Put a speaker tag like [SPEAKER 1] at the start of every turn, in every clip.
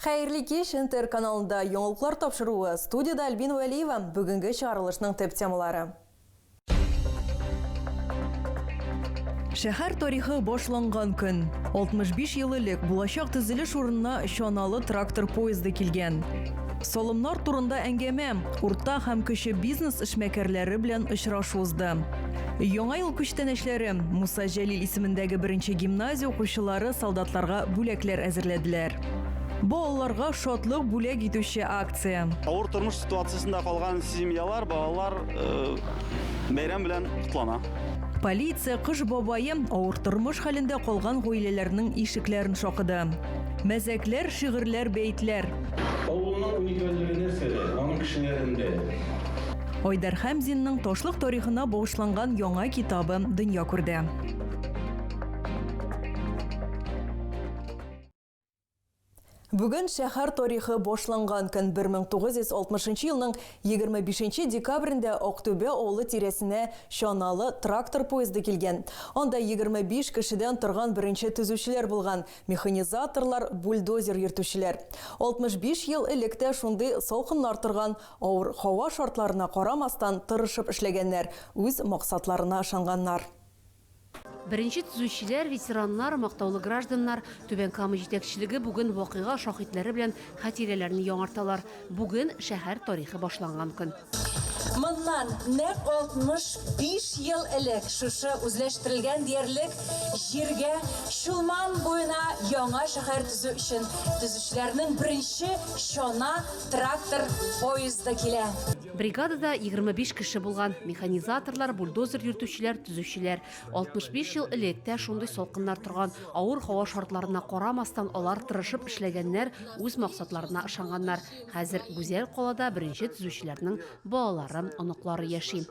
[SPEAKER 1] Хәерле кич, НТР каналында яңалыклар тапшыруы, студиядә Альбина Вәлиева, бүгенге чыгарылышның төп темалары. Шәһәр тарихы башланган көн. 65 ел элек булачак төзелеш урынына чаналы трактор поезды килгән. Салымнар турында әңгәмә, урта һәм кече бизнес эшмәкәрләре белән очрашу узды. Яңа ел күчтәнәчләре Муса Җәлил исемендәге беренче гимназия укучылары солдатларга бүләкләр әзерләделәр. Балаларга шатлык бүләк итүче акция. Авыр тормыш ситуациясендә калган семьялар, балалар э, бәйрәм белән котлана. Полиция кыш бабае авыр тормыш хәлендә калган гаиләләрнең ишекләрен шакыды. Мәзәкләр, шигырьләр, бәетләр. Авылның уникальлеге нәрсәдә? Аның кешеләрендә. Айдар Хәмзинның ташлык тарихына багышланган яңа китабы дөнья күрде. Бүген шәһәр тарихы башланган көн 1960 елның 25 декабрендә Актүбә авылы тирәсенә чаналы трактор поезды килгән. Анда 25 кешедән торган беренче төзүчеләр булган, механизаторлар, бульдозер йөртүчеләр. 65 ел элек тә шундый салкыннар торган, Авыр һава шартларына карамастан тырышып эшләгәннәр, үз максатларына ышанганнар. Беренче төзүчеләр, ветераннар, мактаулы гражданнар, Түбән Кама җитәкчелеге бүген вакыйга шаһитләре белән хатирәләрне яңарталар. Бүген, шәһәр тарихы башланган көн. Моннан нәкъ 65 ел элек шушы үзләштерелгән диярлек җиргә Чулман буена яңа шәһәр төзү өчен төзүчеләрнең беренче чана трактор поезды килә. Бригадада 25 кеше булган, механизаторлар, бульдозер йөртүчеләр, төзүчеләр. 65 ел элек тә шундый салкыннар торган. Авыр һава шартларына карамастан, алар тырышып эшләгәннәр, үз максатларына ышанганнар. Хәзер Гүзәл Калада беренче төзүчеләрнең балаларым, оныклары яши.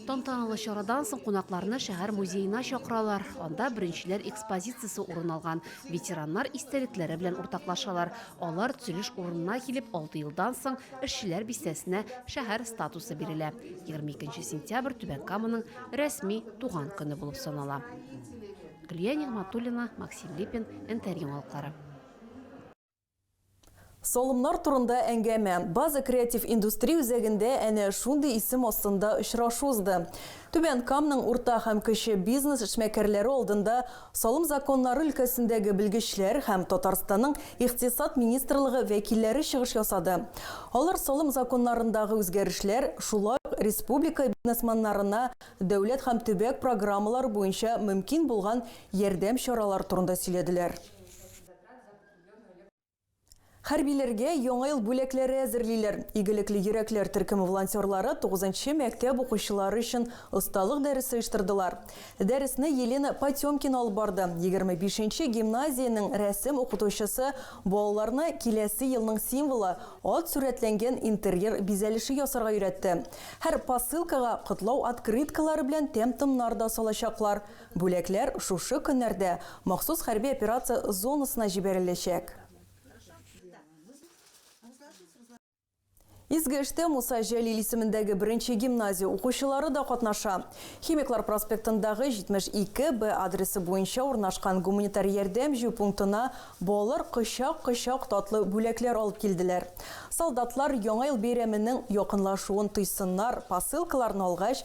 [SPEAKER 1] Тантаналы чарадан соң кунакларны шәһәр музеена чакыралар. Анда беренчеләр экспозициясе урын алган, ветераннар истәлекләре белән уртаклашалар. Алар төзелеш урынына килеп, алты елдан соң эшчеләр бистәсенә шәһәр статусы бирелә. 22 сентябрь Түбән Каманың рәсми туган көне булып санала. Гөлия Нигматуллина, Максим Липин, НТР яңалыклары. Салымнар турында әңгәмә База креатив индустрия үзәгендә әнә шундый исем астында очрашу узды. Түбән Камның урта һәм кече бизнес эшмәкәрләре алдында Салым законнары өлкәсендәге белгечләр һәм Татарстанның Икътисад министрлыгы вәкилләре чыгыш ясады. Алар салым законнарындагы үзгәрешләр, шулай ук республика бизнесманнарына дәүләт һәм төбәк программалары буенча мөмкин булган ярдәм чаралары турында сөйләделәр. Хәрбиләргә Яңа ел бүләкләре әзерлиләр. Игелекле йөрәкләр төркеме волонтерлары тугызынчы мәктәп укучылары өчен осталык дәресе оештырдылар. Дәресне Елена Потемкина алып барды. Егерме бишенче гимназиянең рәсем укытучысы балаларны киләсе елның символы, ат сурәтләнгән интерьер бизәлеше ясарга өйрәтте. Һәр посылкага котлау открыткалары белән тәм-томнар да салачаклар. Бүләкләр шушы көннәрдә махсус хәрби операция зонасына җибәреләчәк. Изге эштә Муса Җәлил исемендәге беренче гимназия укучылары да катнаша. Химиклар проспектындагы 72 Б адресы буенча урнашкан гуманитар ярдәм җыю пунктына балалар кочак-кочак татлы бүләкләр алып килделәр. Солдатлар Яңа ел бәйрәменең якынлашуын тойсыннар, посылкаларны алгач,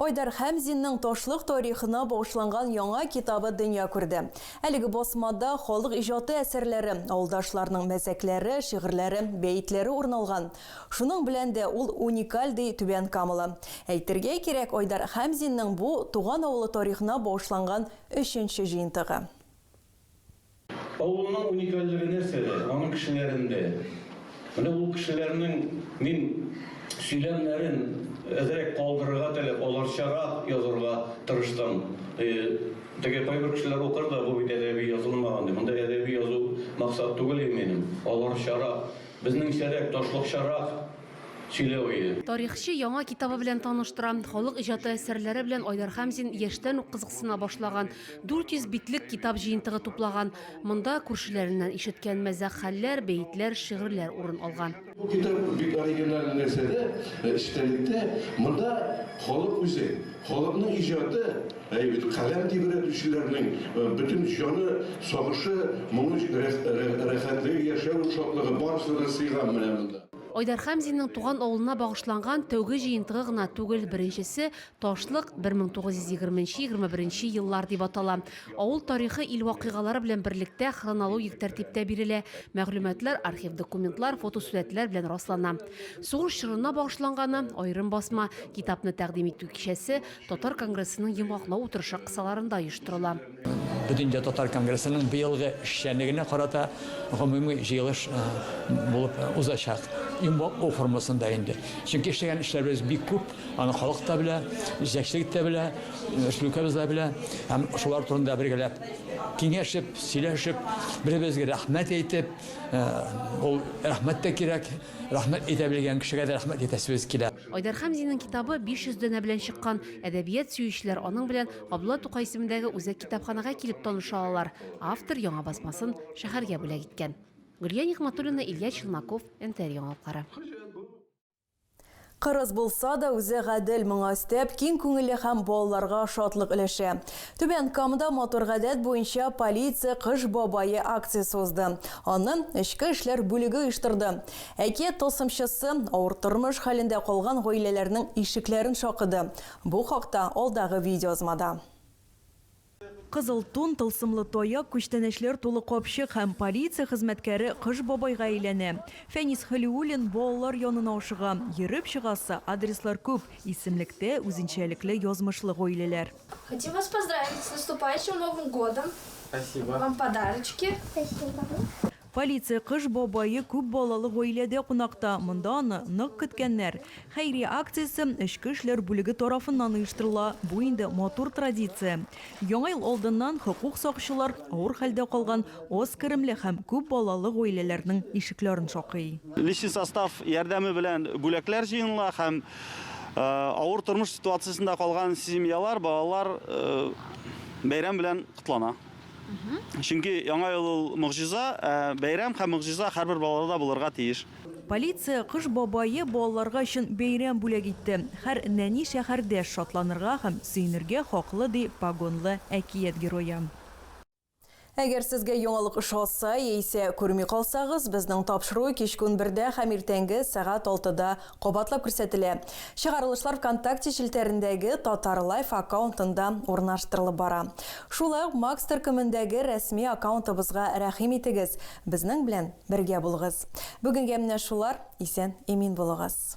[SPEAKER 1] Айдар Хәмзинның Ташлык тарихына багышланган яңа китабы дөнья күрде. Әлеге басмада халык иҗаты әсәрләре, авылдашларның мәзәкләре, шигырьләре, бәетләре урын алган. Шуның белән дә ул уникаль, ди Түбән Камалы. Әйтергә кирәк, Айдар Хәмзинның бу, туган авылы тарихына багышланган өченче җыентыгы. Авылның уникальлеге нәрсәдә? Аның кешеләрендә. Менә ул кешеләрнең мин сөйләмнәрен әзрәк калдырырга теләп, аларчарак язырга тырыштым. Теге кайбер кешеләр укыр да, бу бит әдәби язылмаган дип. Монда әдәби язу максат түгел иминем. Аларчарак, безнеңчәрәк, ташлыкчарак. сөйләве. Тарихчы яңа китабы белән таныштыра. Халык иҗаты әсәрләре белән Айдар Хәмзин яшьтән үк кызыксына башлаган. 400 битлек китап җыентыгы туплаган. Монда күршеләреннән ишеткән мәзәк хәлләр, бәетләр, шигырьләр урын алган. Бу китап бик оригиналь нәрсә дә, эчтәлектә, монда халык үзе, халыкның иҗаты, каләм тибрәтүчеләрнең бөтен җаны, сагышы, моңы, рәхәтлеге, яшәү шатлыгы, барысы да сыйган менә монда. Айдар Хәмзинның туган авылына багышланган тәүге җыентыгы гына түгел, беренчесе Ташлык 1920-21 еллар дип атала. Авыл тарихы ил вакыйгалары белән берлектә хронологик тәртиптә бирелә, мәгълүматлар архив документлар, фотосурәтләр белән раслана. Сугыш чорына багышланганы, аерым басма, китапны тәкъдим итү кичәсе Татар конгрессының йомгаклау утырышы кысаларында оештырыла. Бөтендөнья татар конгрессының быелгы эшчәнлегенә карата гомуми җыелыш булып узачак. Йомгаклау формасында инде. Чөнки эшләгән эшләребез бик күп, аны халык та белә, җитәкчелек тә белә, республикабыз да белә. Һәм шулар турында бергәләп киңәшеп, сөйләшеп, бер-беребезгә рәхмәт әйтеп, ул рәхмәт тә кирәк, рәхмәт әйтә белгән кешегә дә рәхмәт әйтәсебез килә. Айдар Хәмзинең китабы 500 данә белән чыккан, әдәбият сөючеләр аның белән Абдулла Тукай исемендәге үзәк китапханәгә килеп таныша алалар. Автор яңа басмасын шәһәргә бүләк иткән. Гөлия Нигъматуллина, Илья Челноков, НТР яңалыклары. Кырыс булса да, үзе гадел, моңа өстәп, киң күңелле һәм балаларга шатлык өләшә. Түбән Камада матур гадәт буенча Полиция кыш бабае акциясе узды. Аны эчке эшләр бүлеге оештырды. Әкият тылсымчысы авыр тормыш хәлендә калган гаиләләрнең ишекләрен шакыды. Бу хакта алдагы видеоязмада. Кызыл тун, тылсымлы таяк, күчтәнәчләр тулы капчык һәм полиция хезмәткәре Кыш бабайга әйләнә. Фәнис Хәлиуллин балалар янына ашыга. Йөреп чыгасы адреслар күп, исемлектә үзенчәлекле язмышлы гаиләләр. Хотим вас поздравить с наступающим Новым годом! Спасибо! Вам подарочки! Спасибо! Полиция Кыш бабае күп балалы гаиләдә кунакта, монда аны нык көткәннәр. Хәйрия акциясе эчке эшләр бүлеге тарафыннан оештырыла, бу инде матур традиция. Яңа ел алдыннан хокук сакчылар авыр хәлдә калган аз керемле һәм күп балалы гаиләләрнең ишекләрен шакый. Личный состав ярдәме белән бүләкләр җыеныла һәм авыр тормыш ситуациясендә калган семьялар, балалар бәйрәм белән котлана. Чөнки Яңа ел ул могҗиза, ә бәйрәм һәм могҗиза һәрбер балаларда булырга тиеш. Полиция Кыш бабае балаларга өчен бәйрәм бүләк итте. Һәр нәни шәһәрдәш шатланырга һәм сөенергә хаклы, ди погонлы әкият герое. Әгәр сезгә яңалык ошаса яисә күрми калсагыз, безнең тапшыру кичке унбердә һәм иртәнге сәгать алтыда Кабатлап күрсәтелә. Чыгарылышлар ВКонтакте челтәрендәге Татар Лайф аккаунтында урнаштырылып бара. Шулай ук Макс төркемендәге рәсми аккаунтыбызга рәхим итегез, безнең белән бергә булыгыз. Бүгенгә менә шулар, исән имин булыгыз.